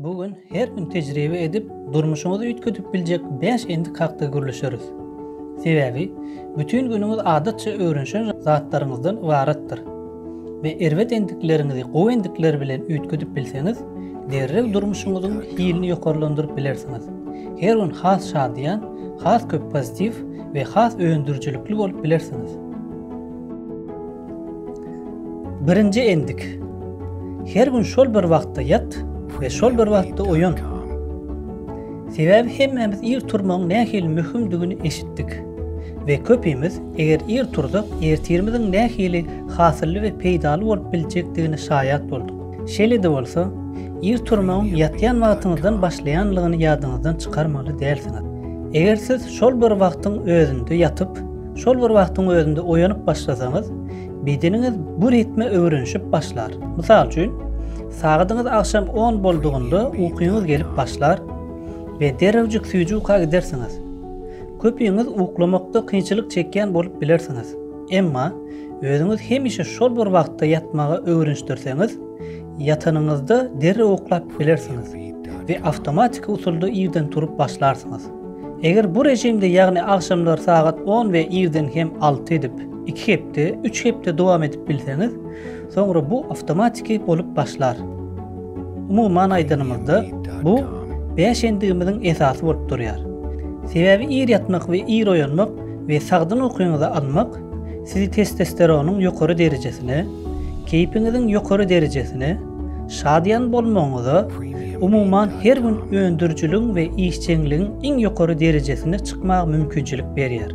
Bu gün her gün tejribe edip, durmuşyňyzy üýtgedip biljek bäş endik hakda gürleşeris. Sebäbi, bütin günüňiz adatça öwrenişen zatlaryňyzdan ybaratdyr. we erbet endikleriňizi gowy endikler bilen üýtgedip bilseňiz, derrew durmuşyňyzyň hilini ýokarlandyryp bilersiňiz. Her gün has şadyýan, has köp pozitiw we has öndürijilikli bolup bilersiňiz. Birinji endik. Her gün şol bir wagtda ýat we şol bir wagtda oýan. Sebäbi hemmämiz ir turmagyň nähili möhümdigini eşitdik we köpimiz Eger ir tursak, ertirimiziň nähili hasylly we peýdaly bolup biljekdigine şaýat bolduk. Şeýle-de bolsa, ir turmagyň ýatýan wagtyňyzdan başlaýanlygyny ýadyňyzdan çykarmaly dälsiňiz. Eger siz şol bir wagtyň özünde ýatyp, şol bir wagtyň özünde oýanyp başlasaňyz, bedeniňiz bu ritme öwrenişip başlar. Mysal üçin, sagadyňyz agşam on boldugynda ukyňyz gelip başlar we derrewjik süýji uka gidersiňiz. Köpüňiz uklamakda kynçylyk çekýän bolup bilersiňiz. Emma, özüňizi hemişe şol bir wagtda ýatmaga öwrenişdirseňiz, ýatanyňyzda derrew uklap bilersiňiz we awtomatiki usulda irden turup başlarsyňyz. Eger bu režimde, ýagny agşamlar sagat on we irden hem alty edip, iki hepde, üç hepde dowam edip bilseňiz, soňra bu awtomatiki bolup başlar. Umuman aýdanymyzda, bu bäş endigimiziň esasy bolup durýar. Sebäbi ir ýatmak we ir oýanmak we sagdyn ukyňyzy almak sizi testosteronyň ýokary derejesine, keýpiňiziň ýokary derejesine, şadyýan bolmagyňyza, umuman her gün öndürijiligiň we işjeňligiň iň ýokary derejesine çykmaga mümkinçilik berýär.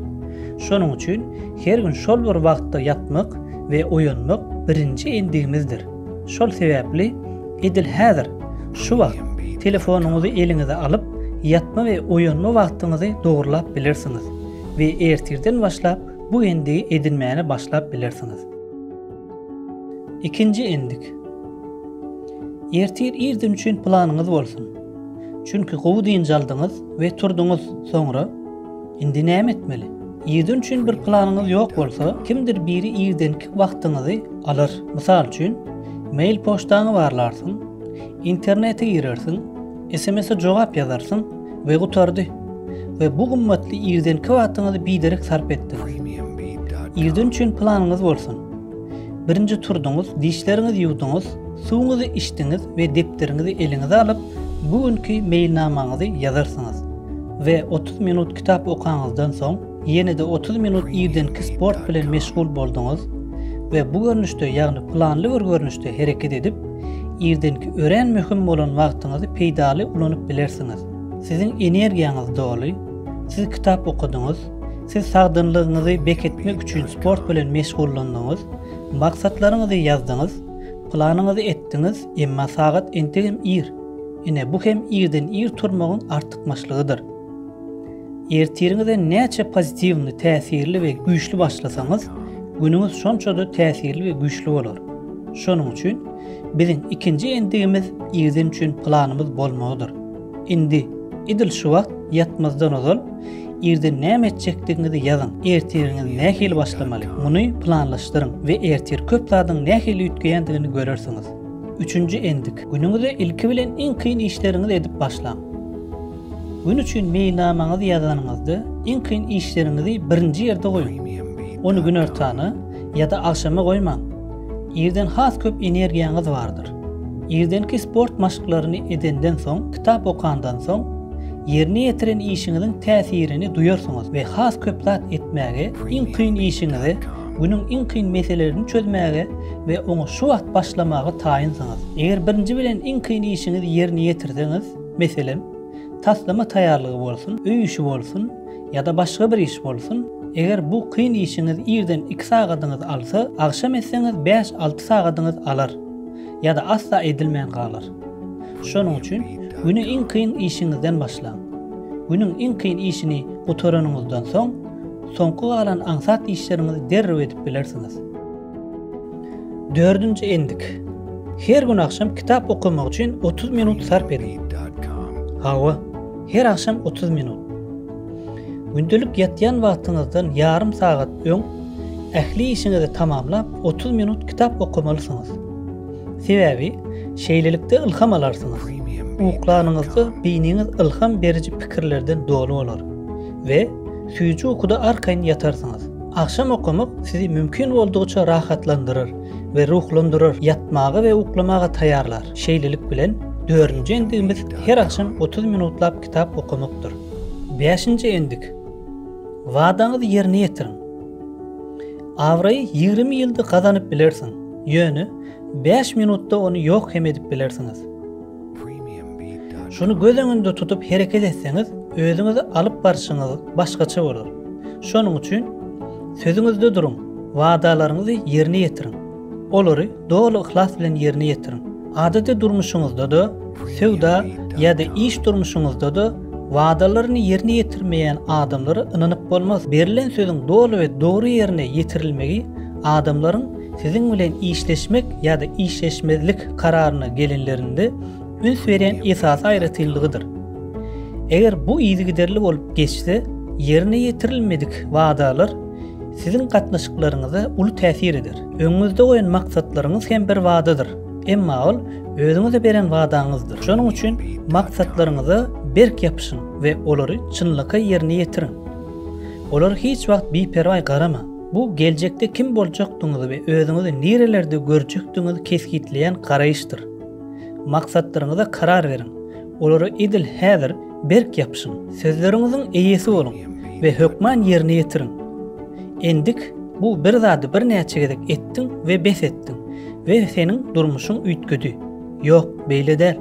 Şonuň üçin her gün şol bir wagtda ýatmak we oýanmak birinji endigimizdir. Şol sebäpli edil häzir, şu wagt telefonyňyzy eliňize alyp, ýatma we oýanma wagtyňyzy dogrulap bilersiňiz we ertirden başlap bu endigi edinmäne başlap bilersiňiz. Ikinji endik. Ertir irden üçin planyňyz bolsun. Çünki gowy dynç aldyňyz we turduňyz, soňra. Indi näme etmeli? Irden üçin bir planyňyz ýok bolsa, kimdir biri irdenki wagtyňyzy alar. Mysal üçin, mail poçtaňy barlarsyň, internete girersiň, SMS-e jogap ýazarsyň we gutardy. We bu gymmatly irdenki wagtyňyzy biderek sarp etdiňiz. Irden üçin planyňyz bolsun. Birinji turduňyz, dişleriňizi ýuwduňyz, suwuňyzy içdiňiz we depderiňizi eliňize alyp, bu günki meýilnamaňyzy ýazarsyňyz. We otuz minut kitap okaňyzdan soň, ýene-de otuz minut irdenki sport bilen meşgul bolduňyz we bu görnüşde, ýagny planly bir görnüşde hereket edip, irdenki örän möhüm bolan wagtyňyzy peýdaly ulanyp bilersiňiz. Siziň energiýaňyz doly, siz kitap okadyňyz, Siz sagdynlygyňyzy beketmek üçin sport bilen meşgullandyňyz, maksatlaryňyzy ýazdyňyz, planyňyzy etdiňiz, emma sagat entegem ir. Ine, bu hem irden ir turmagyň artykmaçlygydyr. Ertiriňize näçe pozitiwny, täsirli we güýçli başlasaňyz, günüňiz şonça-da täsirli we güýçli bolar. Şonuň üçin biziň ikinji endigimiz irden üçin planymyz bolmagydyr. Indi, edil şu wagt ýatmazdan ozal, irden näme etjekdigiňizi ýazyň. Ertiriňiz nähili başlamaly? Muny planlaşdyryň we ertir köp zadyň nähili üýtgeýändigini görersiňiz. Üçünji endik. Günüňize ilki bilen iň kyn işleriňizi edip başlaň. Gün üçin meýilnamaňyzy ýazanyňyzda, iň kyn işleriňizi birinji ýerde goýuň. Ony günortana ýa-da agşama goýmaň. Irden has köp energiýaňyz bardyr. Irdenki sport maşklaryny edenden soň, kitap okandan soň, ýerine ýetiren işiňiziň täsirini duýarsyňyz we has köp zat etmäge, iň kyn işiňize, günüň iň kyn meselelerini çözmäge we oňa şu wagt başlamaga taýynsyňyz. Eger birinji bilen iň kyn işiňizi ýerine ýetirseňiz, meselem, taslama taýýarlygy bolsun, öý işi bolsun, Ýa-da başga bir iş bolsun, eger bu kyn işiňiz irden iki sagadyňyzy alsa, agşam etseňiz bäş-alty sagadyňyz alar, ýa-da asla edilmän galar. Şonuň üçin güni iň kyn işiňizden başlaň. Günüň iň kyn işini gutaranyňyzdan soň, soňky galan aňsat işleriňizi derrew edip bilersiňiz. Dördünji endik. Her gün agşam kitap okamak üçin 30 minut sarp ediň. Hawa, her agşam 30 minut. Gündelik ýatýan wagtyňyzdan ýarym sagat öň ähli işiňizi tamamlap 30 minut kitap okamalysyňyz. Sebäbi şeýlelikde ylham alarsyňyz. Uklanyňyzda beýniňiz ylham beriji pikirlerden doly bolar we süýji ukuda arkaýyn ýatarsyňyz. Agşam okamak sizi mümkin boldugyça rahatlandyrar we ruhlandyrar, ýatmaga we uklamaga taýýarlar. Şeýlelik bilen, dördünji endigimiz her agşam otuz minutlap kitap okamakdyr. Bäşinji endik. Wadaňyzy ýerine ýetiriň. Abraýy ýigrimi ýylda gazanyp bilersiň, ýöne bäş minutda ony ýok hem edip bilersiňiz. Şuny göz öňünde tutup hereket etseňiz, özüňizi alyp barşyňyz başgaça bolar. Şonuň üçin sözüňizde duruň, wadalaryňyzy ýerine ýetiriň. Olary doly yhlas bilen ýerine ýetiriň. Adaty durmuşyňyzda-da, söwda ýa-da iş durmuşyňyzda-da wadalaryny ýerine ýetirmeýän adamlara ynanyp bolmaz. Berlen sözüň doly we dogry ýerine ýetirilmegi adamlaryň Siziň bilen işleşmek ýa-da işleşmezlik kararyna gelinlerinde üns berýän esasy aýratynlygydyr. Eger bu yzygiderli bolup geçse, ýerine ýetirilmedik wadalar siziň gatnaşyklaryňyza uly täsir eder. Öňüňizde goýan maksatlaryňyz hem bir wadadyr, emma ol özüňize beren wadaňyzdyr. Şonuň üçin maksatlaryňyza berk ýapyşyň we olary çynlakaý ýerine ýetiriň. Olara hiç wagt biperwaý garamaň. Bu geljekde kim boljakdygyňyzy we özüňizi nirelerde görjekdigiňizi kesgitleýän garaýyşdyr. Maksatlaryňyza karar beriň, olara edil häzir berk ýapyşyň. Sözleriňiziň eýesi boluň we hökman ýerine ýetiriň. Endik bu bir zady birnäçe gezek etdiň we bes etdiň we seniň durmuşyň üýtgedi. Ýok, beýle däl.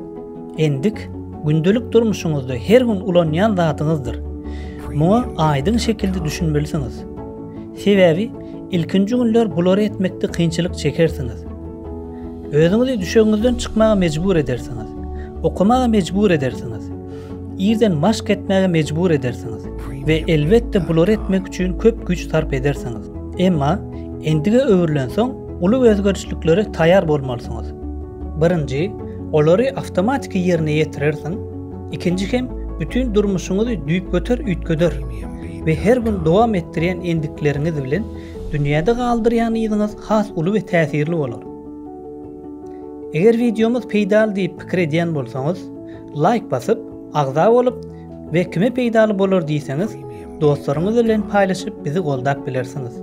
Endik, gündelik durmuşyňyzda her gün ulanýan zadyňyzdyr. Muňa aýdyň şekilde düşünmelisiňiz. Sebäbi ilkinji günler bulary etmekde kynçylyk çekersiňiz. Özüňizi düşegiňizden çykmaga mejbur edersiňiz. Okamaga mejbur edersiňiz. Irden maşk etmäge mejbur edersiňiz we elbetde bulary etmek üçin köp güýç sarp edersiňiz. Emma endige öwrülensoň, Uly özgerişliklere taýar bolmalysyňyz. Birinji, olary awtomatiki ýerine ýetirersiň, ikinji hem bütin durmuşyňyzy düýpgöter üýtgeder we her gün dowam etdirýän endikleriňiz bilen dünýäde galdyrýan yzyňyz has uly we täsirli bolar. Eger wideomyz peýdaly diýip pikir edýän bolsaňyz, laýk basyp, agza bolup, We kime peýdaly bolar diýseňiz dostlaryňyz bilen paýlaşyp bizi goldap bilersiňiz.